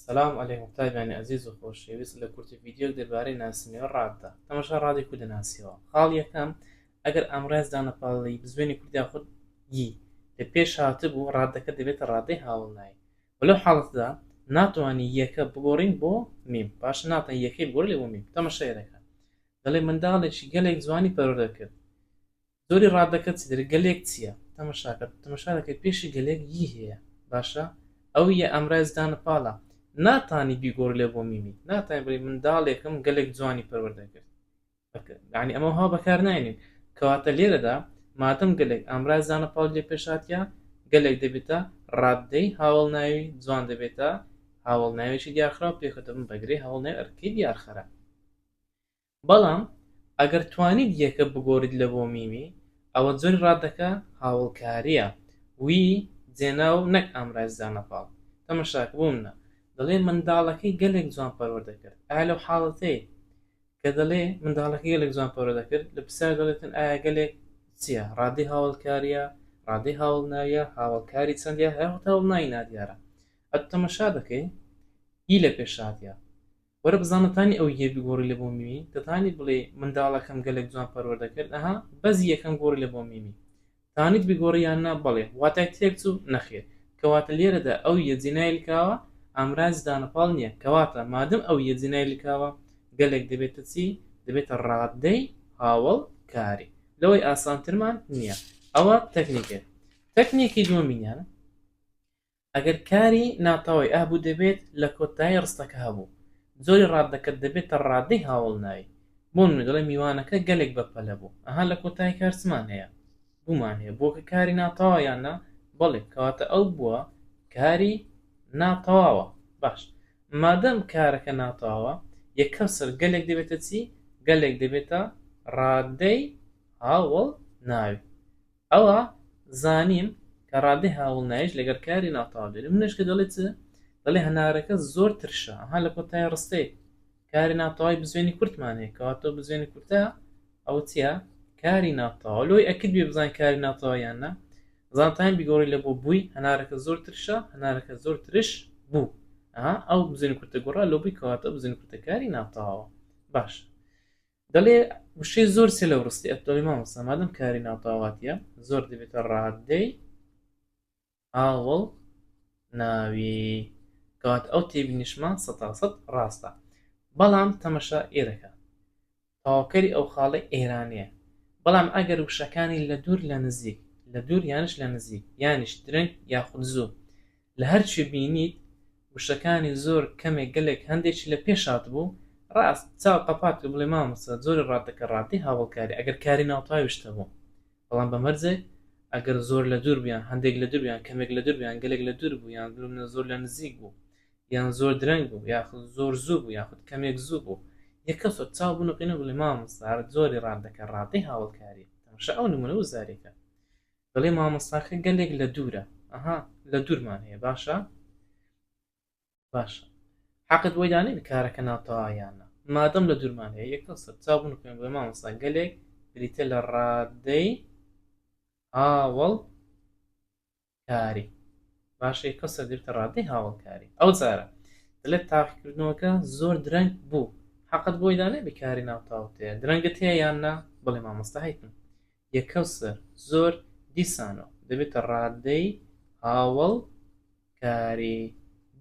سلام علیکم قوتابیانی ئەزیز و خۆشەویست لە کورتە ڤیدیۆک دەربارەی ناسینەوەی ڕاددا تەمەشا ڕادی کو دەناسیەوە خاڵ یەکەم ئەگەر ئامڕاز دانەپاڵی بزوێنی کوردیا خود یی لە پێش هاتبوو ڕادەکە دەبێتە ڕادەی هاوڵنای ولو حاڵەتدا ناتوانانی یەکە بگۆڕین بۆ میم باش ناتە یەکەی بگۆڕ لێ بۆ میم تەمەشای دەکەن دەڵێ منداڵێکی گەلێک جوانی پەرۆدە کرد زۆری ڕادەکە چیتر گەلێک چیە تەمەشاکە تەمەشا دەکەی پێشی گەلێک ی هەیە باشە ئەو یە ئەمرای زدانە پاڵە ناتانی بیگۆڕی لە بۆ میمی ناتانی بڵی منداڵێکم گەلێک جوانی پەروەردە کرد ینی ئەمە ها بەکار ناینین کەواتە لێرەدا مادەم گەلێک ئامرای زانە پاڵ لێ پێشاتە گەلێک دەبێتە ڕاددەی هاوڵ ناوی جوان دەبێتە هاوڵ ناوێکی دیارخراو پێکەتە من بەگرێ هەوڵ نێ ئەرکی دیارخەرە بەڵام ئەگەر توانیت یەکە بگۆریت لە بۆ میمی ئەوە جۆری ڕادەکە هاوڵکاریە وی جێناو نەک ئامرازی دانە پاڵ تەمەشاکە بۆ منە دەڵێ منداڵەکەی گەلێک جوان پەروەر دەکرد ئایا لەو حاڵەتەی کە دەڵێ منداڵەکەی گەلێک جوان پەروەر دەکرد لە پرسیار دەڵێتن ئایا گەلێک چیە ڕادەی هاوڵکاریە ڕادەی هاوڵناویە هاوڵکاری چەندە هەر هەتاوڵناوی نادیارە ئەتو تەمەشا دەکەی ی لە پێشاتە وەرە بزانە تانی ئەو یە بگۆڕی لە بۆ میمی دەتانی بڵێی منداڵەکەم گەلەک جوان پەروەردە کرد ئەها بەس یەکەم گۆڕی لە بۆ میمی تانیت بگۆڕی یان نا بەڵێ واتای تێک چوو نەخێر کەواتە لێرەدا ئەو یە جێنای لکاوە ئامرازی دانەپاڵ نیە کەواتە مادەم ئەو یە جێنای لکاوە گەلەک دەبێتە چی دەبێتە ڕادەی هاوەڵ کاری لەوەی ئاسانترمان نیە ئەوە تەکنیکێک تەکنیکی دووەمینیان ئەگەر کاری ناتەوای ئه بوو دەبێت لە کۆتایی ڕستەکە هەبوو جۆری ڕادەکە دەبێتە ڕادەی هاوەڵناوی بۆ نموونە دەڵێم میوانەکە گەلێک بە پەلە بوو ئه لە کۆتایی کار چمان هەیە بوومان هەیە بووە کە کاری ناتەوا یان نا بەڵێ کەواتە ئەو بووە کاری ناتەواوە باش مادەم کارەکە ناتەواوە یە کەسر گەلێک دەبێتە چی گەلێک دەبێتە ڕادەی هاوەڵ ناوی ئەوا زانیم کە ڕادەی هاوڵنایش لەگەڵ کاری ناتەواو دێت. منیش کە دەڵێ چ؟ دەڵێ هەنارەکە زۆر ترشە، ئەها لە کۆتای ڕستەی، کاری ناتەواوی بزوێنی کورتمان هەیە، کەواتەوە بزوێنی کورتە، ئەوە چییە؟ کاری ناتەواو. لۆی ئەکرد بێ بزانین کاری ناتەواو یان نا؟ زانتاین بیگۆڕی لە بۆ بووی، هەنارەکە زۆر ترشە، هەنارەکە زۆر ترش بوو. ئەها ئەو بزوێنی کورتە گۆڕا لۆ بووی، کەواتەوە بزوێنی کورتە کاری ناتەواوە. باشە. دەڵێ وشەی زۆر سێ لەو ڕستی ئەتدەڵی مامۆستا مادەم کاری ناوتاواتە زۆر دەبێتە ڕادەی ئاوڵ ناوی کات ئەو تێبینیشمان سەتاسەد ڕاستە بەڵام تەمەشا ئێرەکە تاوکەری ئەو خاڵی ئێرانەیە بەڵام ئەگەر وشەکانی لە دوور لە نزیک لە دوور یانش لە نزیک یانیش درنگ یاخود زوو لە هەرچی بینیت وشەکانی زۆر کەمێک گەلێک هەندێکی لە پێش هاتبوو ڕاست چاو قەپات کرد بڵێ مامۆستا جۆری ڕادەکە ڕادەی هاوەڵکاری ئەگەر کاری ناوتاوی شت هەبوو بەڵام بە مەرجێک ئەگەر زۆر لە دوور بوو یان هەندێک لە دوور بوو یان کەمێک لە دوور بوو یان گەلێک لە دوور بوو یان لومنە زۆر لە نزیک بوو یان زۆر درەنگ بوو یاخود زۆر زوو بوو یاخود کەمێک زوو بوو یەکە سۆ چاو بنوقینە بڵێ مامۆستا جۆری ڕادەکە ڕادەی هاوەڵکاری تەماشا ئەو نمونە وزاریەکە دەڵێ مامۆستاکە گەلێک لە دوورە ئەها لە دوورمان هەیە باشە باشە حەقت بۆی دانێت کارەکە ناتەوایانە مادەم لە دوورمان هەیە یەکە سەر چابوون پێم بڵێ مامۆستا گەلێک بریتە لە ڕادەی هاوڵ کاری باشە یەکە سەر دێتە ڕادەی هاوڵکاری ئەو جارە دەلێت تاقیکردنەوەکە زۆر درەنگ بوو حەقت بۆی دانێ بکاری ناوتاوتەیە درەنگت هەیە یان نا بڵێ مامۆستا هەیتن یە کەوسەر زۆر دیسانۆ دەبێتە ڕادەی هاوەڵ کاری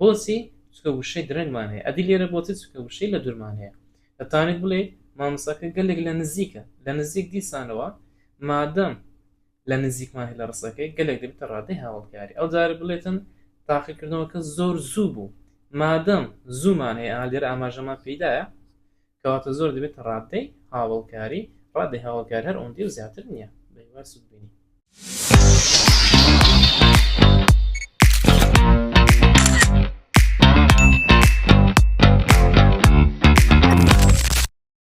بۆچی چکە وشەی درەنگمان هەیە ئەدی لێرە بۆچی چکە وشەی لە دورمان هەیە دەتانێت بڵێ مامساکە گەلێک لە نزیکە لە نزیک دیسانەوە مادەم لە نزیکمان هەیە لە ڕسەکەی گەلێک دەبێتە ڕادەی هاوڵکاری ئەو جارە بڵێتن تاقیکردنەوەکە زۆر زوو بوو مادەم زوومان هەیە ئالێرە ئاماژەمان پیدایە کەواتە زۆر دەبێتە ڕادەی هاوەڵکاری، ڕادەی هاوەڵکاری هەر ئەوەندەی و زیاتر نییە بە هیوای سوودبینی.